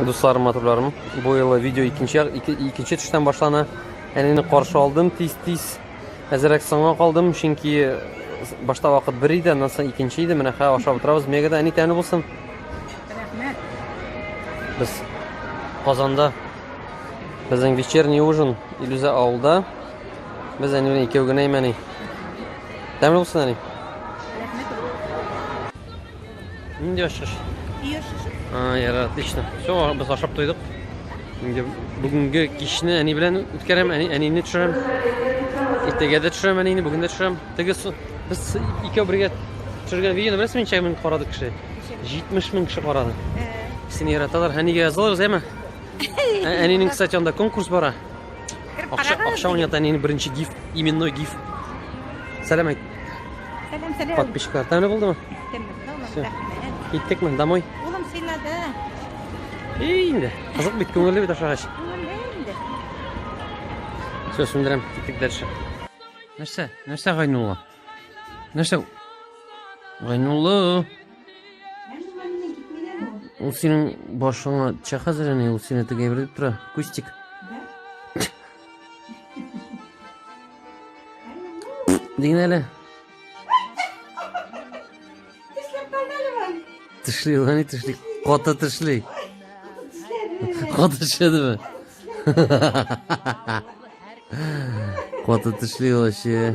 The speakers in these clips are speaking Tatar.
Дусларым, матурларым, бу елы видео икенче, ике, икенче төштән башлана. Әнине каршы алдым тиз-тиз. Әзерәк соңга калдым, чөнки башта вакыт бер иде, аннан соң икенче иде. Менә хәзер ашап утырабыз. Мегада әни тәмле булсын. Рәхмәт. Без Казанда безнең вечерний ужин Илүзә авылда. Без әни белән икәү генә имәни. Тәмле булсын, әни. Нинди ашыш? Үй ашышы. А, яра, отлично. Все, без ашап туйдык. Инде бүгенге кичне әни белән үткәрәм, әни, әнине төшерәм. Иртәгә дә төшерәм әнине, бүген дә төшерәм. Теге без икәү бергә төшергән видеоны беләсезме, ничә мең карады кеше? 70 мең кеше карады. Сине яраталар. Әнигә язалар, әйме? Әнинең, кстати, анда конкурс бара. Кереп Акча, карагыз. акча уйната әнине беренче гиф, именной гиф. Сәлам әйт, Сәлам, сәлам. подписчиклар. Тәмле булдымы? Тәмле, тәмле, Всё. рәхмәт. Киттекме? Домой? Улым сыйлады. Эй, инде. Кызык бит, күңелле бит ашагач. Күңелле инде. Все, сүндерәм, киттек дальше. Нәрсә? Нәрсә Гайнулла? Нәрсә? Гайнулла. Ул синең башыңа ча хәзер әни, ул сине теге әйбер дип тора. Кустик. Дигән әле. Тешли, ул әни тешли. Каты тешли. Каты тешедеме? Каты тешли ул әше.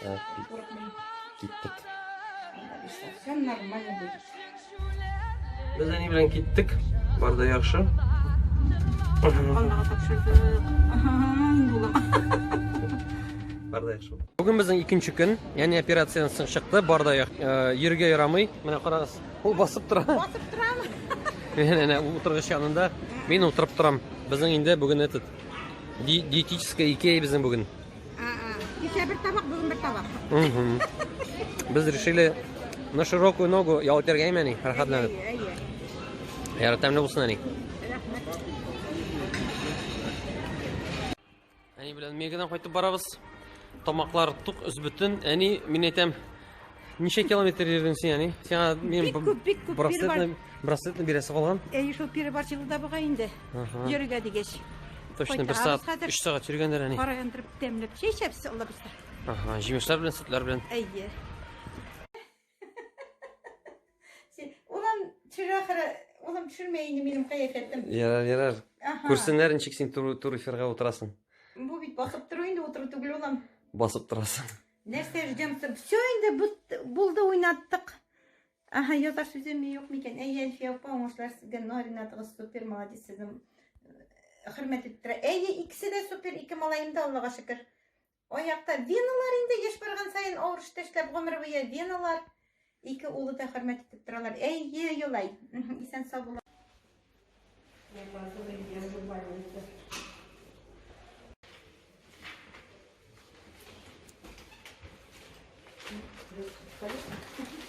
Так, киттек. Все нормально будет. Без әни белән киттек. Бар да яхшы. Аллага тапшырдык. Бар да яхшы. Бүген безнең икенче көн, ягъни операциядан соң чыкты. Бар да йөргә ярамый. Менә карагыз, ул басып тора. Басып торам. Менә утыргыч янында мин утырып торам. Безнең инде бүген этот диетическая икея безнең бүген. Кичә бер табак, бүген бер табак. Без решили на широкую ногу ял итәргәме ни, рәхәтләнеп. Ярар, тәмле булсын әни. Әни белән Мегадан кайтып барабыз. Тамаклар тук, үзбөтен. Әни, мин әйтәм, Ничә километр йөрдең син, әни? Сиңа мин Бик күп, бик күп, браслетны, браслетны бирәсе калган. Әй, шул перебар җылыда буга инде. Ага. Йөргә дигәч. Точно бер сәгать, хәзер. 3 сәгать йөргәндер әни. Кара яндырып тәмләп чәй эчәбез, Алла бирсә. Ага, җимешләр белән, сөтләр белән. Әйе. Улам төшерә ахыры, улам төшермәй инде минем кыяфәтем. Ярар, ярар. Ага. Күрсеннәр ничек син туры туры эфирга утырасың. Бу бит басып тору инде, утыру түгел улам. Басып торасың. Нәрсә ждемся? Все инде булды уйнаттык. Ага, яза сүземе юк микән? Әйе, Әлфия апа, уңышлар сезгә, но Ринатыгыз супер, молодец сезнең. Э, хөрмәт итеп тора. Әйе, икесе дә супер, ике малаем да, Аллага шөкер. Аякта веналар инде еш барган саен авыр эштә эшләп гомер буе веналар. Ике улы да хөрмәт итеп торалар. Әйе, Юлай. Исән сау була. Thank you.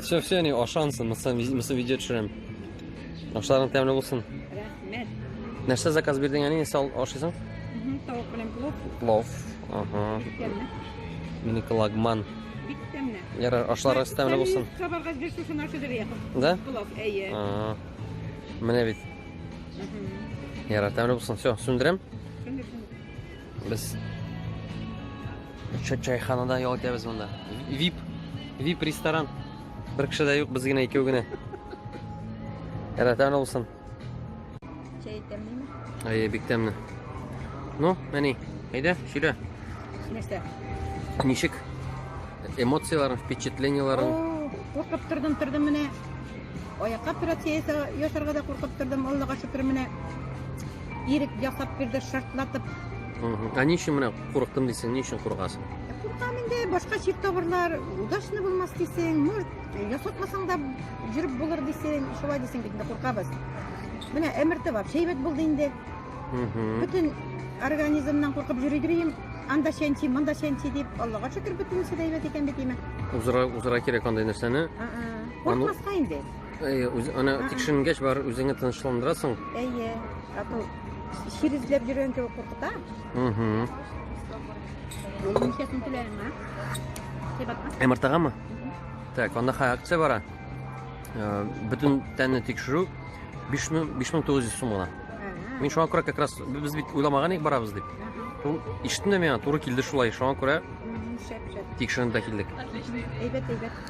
Все, все, не, ашансын, мысы, мысы видео төшерәм. Ашларың тәмле булсын. Рәхмәт. Нәрсә заказ бирдең әни, нәрсә ашыйсың? Тавык белән плов. Плов. Ага. Минеке лагман. Бик тәмле. Ярар, ашларыгыз тәмле булсын. Сабарга бер шушын ашыды бия. Да? Плов, әйе. Ага. Менә бит. Ярар, тәмле булсын. Все, сүндерәм. Без чайханада ял итәбез монда. VIP, VIP ресторан. Бер кеше дә юк, без генә икәү генә. Рәтән булсын. Чәй тәмлеме? Әйе, бик тәмле. Ну, әни, әйдә, сөйлә. Нәрсә? Ничек? Эмоцияләрең, впечатлениеләрең? Куркып тордым, тордым менә. Аякка операция ясарга да куркып тордым. Аллага шөкер менә Ирек ясап бирде, шартлатып. Ә ни өчен менә курыктым дисең, ни өчен куркасың? Куркам инде, башка чир табырлар, удачный булмас дисең, может, ясатмасаң да жүреп булыр дисең, шулай дисең бит инде куркабыз. Менә әмерте бар, шәйбәт булды инде. Бөтен организмнан куркып йөри дибем, анда чәнчи, монда чәнчи дип, Аллага шөкер, бөтенесе дә әйбәт икән бит имә. Узыра, узыра кирәк андый нәрсәне. Куркмаска инде. Әйе, үз, аны Ага. тикшеренгәч бар үзеңне тынычландырасың. Әйе. А то чир эзләп йөргән кебек куркыта. Угу. Ул ничәсен түләйме, а? Кыйбатмы? Эмыртагамы? Так, анда хай акция бара. Э, Бөтен тәнне тикшерү 5900 сум гына. Ага. Мин шуңа күрә как раз без бит уйламаган идек барабыз дип. Ага. Шул Ишеттем дә миңа туры килде шулай. Шуңа күрә Мгм, Шәп, шәп. тикшеренеп тә килдек. Әйбәт, әйбәт.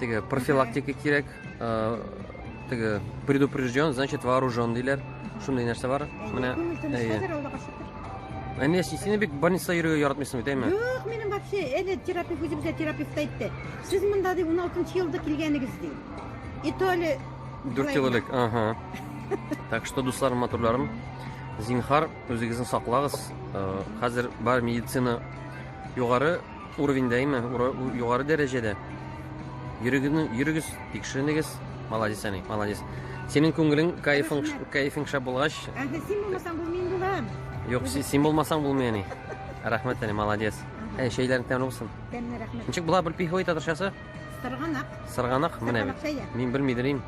Теге профилактика кирәк. Э, теге предупрежден, значит вооружен диләр. Шундый нәрсә бар. Менә әйе. Ә не син бик больница йөрергә яратмыйсың бит, әйме? Юк, минем вообще әле терапевт үзебезгә терапевт әйтте. Сез монда ди 16 елда килгәнегез ди. И то ли 4 ел элек, ага. Так что, дусларым, матурларым, зинхар, үзегезне саклагыз. Э, хәзер бар медицина югары Уровень даими югары дәрәҗәдә. Йөрегезне, йөрегез, тикшеренегез. Молодец, әни, молодец. Синең күңелең, кайфың, кайфың шәп булгач. Әдә син булмасаң бу мин булам. Юк, син булмасаң булмый, әни. Рәхмәт, әни, молодец. Әй, шәйләрен тәмле булсын. Тәмле, рәхмәт. Ничек була бер пиховый татарчасы? Сырганак. Сырганак, менә бит. Мин белмидерим.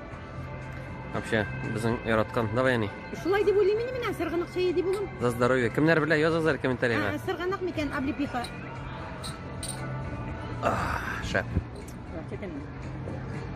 Вообще, безнең яраткан. Давай, әни. Шулай дип уйлыйм инде менә сырганак чәе дип улым. За здоровье. Кемнәр белә языгыз әле комментариягә. Ә, Сырганак микән облепиха? Шәп. Чәтән.